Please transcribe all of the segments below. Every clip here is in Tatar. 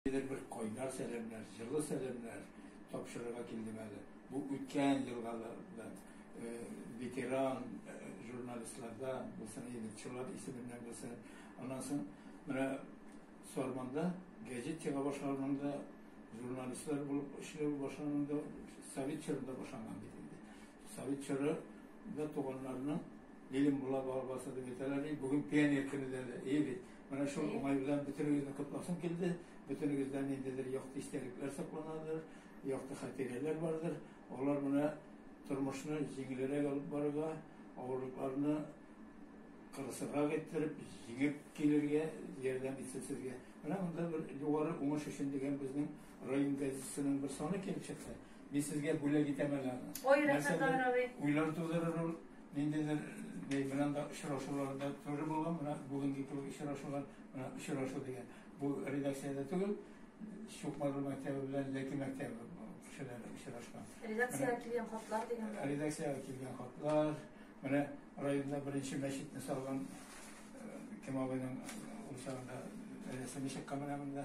Ниндидер бер кайнар сәламнәр, җылы сәламнәр тапшырырга килдем әле. Бу үткән елгалардан, ветеран журналистлардан булсын, егетчылар исеменнән булсын. Аннан соң менә Сарманда гәҗит чыга башлаганда, журналистлар булып эшләү башланганда, совет чорында башланган бит инде. Совет чоры Да туганнарына Илем була бабасы дип әйтәләр, и бүген пионер көне дә әйе бит. Менә шул уңай белән бөтенегезне котласым килде. Бөтенегездә ниндидер якты истәлекләр сакланадыр, якты хатирәләр бардыр. Алар менә тормышны җиңелрәк алып барырга, авырлыкларны кырысырак иттереп, җиңеп килергә ярдәм итсен сезгә. Менә монда бер югары уңыш өчен дигән безнең район газетасының бер саны килеп чыкты. Мин сезгә бүләк итәм әле аны. Ой, рәхмәт, Нәрсәдер Равил. уйлар тудырыр ул, ниндидер ни белән дә очрашуларда туры була, менә бүгенге кебек очрашулар, менә очрашу дигән. Бу редакциядә түгел, Чукмару мәктәбе белән Ләки мәктәбе кешеләре очрашкан. Редакциягә Менә килгән хатлар дигән. Редакциягә килгән хатлар, менә районда беренче мәчетне салган э, Кем абыйның ул чагында рәсеме чыккан менә монда.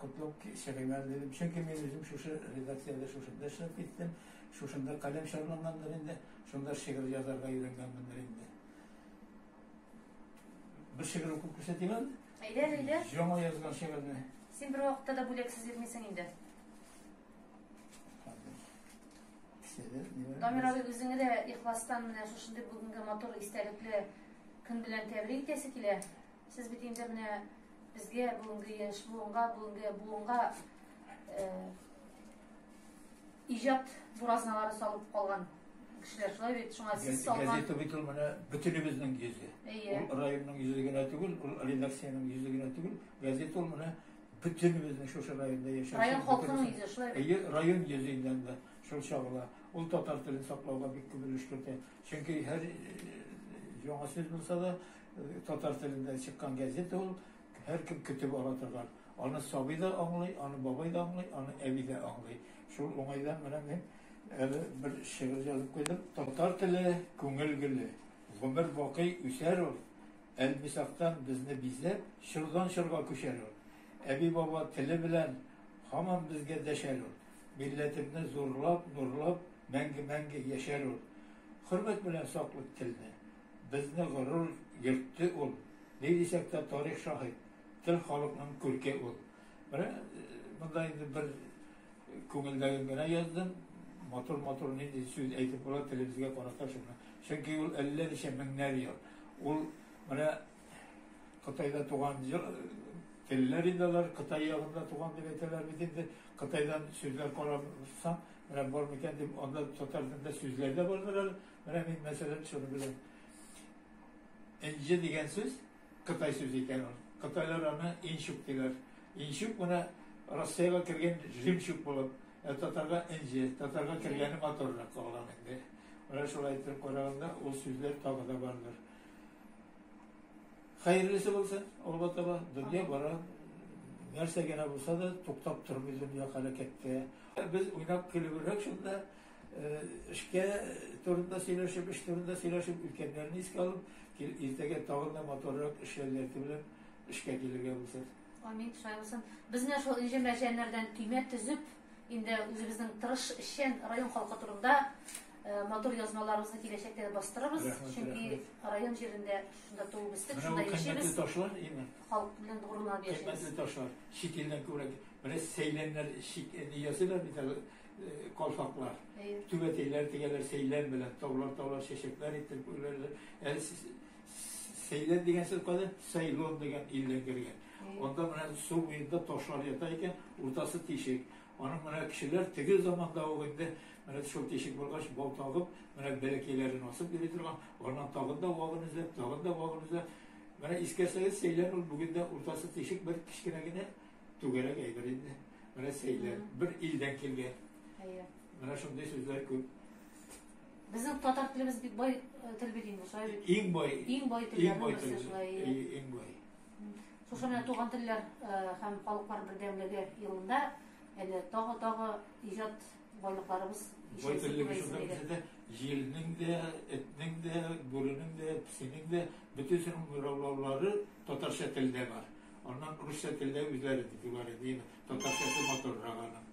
Котлап кичереңез, дидем. Чөнки мин үзем шушы редакциядә шушында эшләп киттем, шушында каләм чарлангандыр инде, шунда шигырь язарга өйрәнгәнмендер инде. Бер шигырь укып күрсәтим әле. Әйдә, әйдә. Яңа язган шигырьне. Син бер вакытта да бүләксез йөрмисең инде. Дамир абый, үзеңе дә ихластан менә шушындый бүгенге матур истәлекле көн белән тәбрик итәсе килә. Сез бит инде менә Безгә бүгенге яшь буынга, бүгенге буынга иҗат буразналары салып калган кешеләр шулай бит шуңа сез салган газета бит ул менә бөтенебезнең йөзе әйе ул районның йөзе генә түгел ул редакциянең йөзе генә түгел газета ул менә бөтенебезнең шушы районда яшәүче район халкының йөзе шулай әйе район йөзеннән дә шул чагыла ул татар телен саклауга бик күп өлеш кертә чөнки һәр яңа сүз булса да Татар телендә чыккан газета ул, һәркем көтеп ала торган. Аны сабый да аңлый, аны бабай да аңлый, аны әби дә аңлый. Шул уңайдан менә мин әле бер шигырь язып куйдым. Татар теле, күңел гөле, гомер бакый үсәр ул, Әлмисактан безне бизәп, чордан чорга күчәр ул. Әби-баба теле белән һаман безгә дәшәр ул. Милләтемне зурлап, нурлап, мәңге-мәңге яшәр ул. Хөрмәт белән саклыйк телне. Безне горур йөртте ул. Ни дисәк тә, тарих шаһит, тел халыкның күрке ул. Менә монда инде бер күңелдәген генә яздым. Матур-матур нинди сүз әйтеп була телебезгә карата шуны. Чөнки ул әллә ничә меңнәр ел. Ул менә Кытайда туган телләр инде алар, Кытай ягында туган дип әйтәләр бит инде. Кытайдан сүзләр карасаң, менә бар микән дип, анда татар телендә сүзләр дә бардыр әле. Менә мин мәсәлән шуны беләм. Энҗе дигән сүз Кытай сүзе икән ул. Кытайлар аны инчук диләр. Инчук менә Россиягә кергән жемчуг булып, ә татарга энҗе, татарга кергәне моторрак калган инде. Менә шулай итеп караганда ул сүзләр тагы да бардыр. Хәерлесе булсын, алга таба дөнья бара. Нәрсә генә булса да туктап тормый дөнья хәрәкәттә. Без уйнап көлеп шунда Эшкә турында сөйләшеп, эш турында сөйләшеп, үткәннәрне искә алып, иртәгә тагын да матуррак эш ләззәте белән эшкә килергә булсын. Амин, шулай булсын. Без менә шул энҗе мәрҗәннәрдән төймә төзеп, инде үзебезнең тырыш эшчән район халкы турында матур язмаларыбызны киләчәктә дә бастырырбыз. Чөнки район җирендә шунда туып үстек, шунда яшибез. Ташлар имин. Халык белән горурланып яшибез. Кыйммәтле ташлар. Чит илдән күбрәк. Менә сәйләннәр чит ниясе дә бит әле. Э, калфаклар, түбәтәйләр тегәләр сәйлән белән, таулар-таулар чәчәкләр итеп күрәләр. Әле сәйлән дигән сүз кайда? Сайлон дигән илдән кергән. Анда менә су буенда ташлар ята икән, уртасы тишек. Аның менә кешеләр теге заманда ук инде менә шул тишек булгач бал тагып, менә бәләкәйләрен асып йөри торган, аннан тагын да вагын эзләп, тагын да вагын эзләп. Менә искәрсәгез, сәйлән ул бүген дә уртасы тишек бер кечкенә генә Түгәрәк әйбер инде. Менә сәйләр, бер илдән килгән. Әйе. Менә шундый сүзләр күп. Безнең татар телебез бик бай э, тел бит инде, шулай бит. Иң бай. Иң бай телләрнең берсе шулай. Иң бай. Шушы менә туган телләр э, һәм халыклар бердәмлеге елында әле тагы-тагы иҗат байлыкларыбыз Бай теллеге шунда бездә дә җилнең дә, этнең дә, бүренең дә, песинең дә бөтен сының мираулаулары татарча телдә бар. Аннан русча телдә үзләре дип югары диелә. Татарчасы матуррак аның.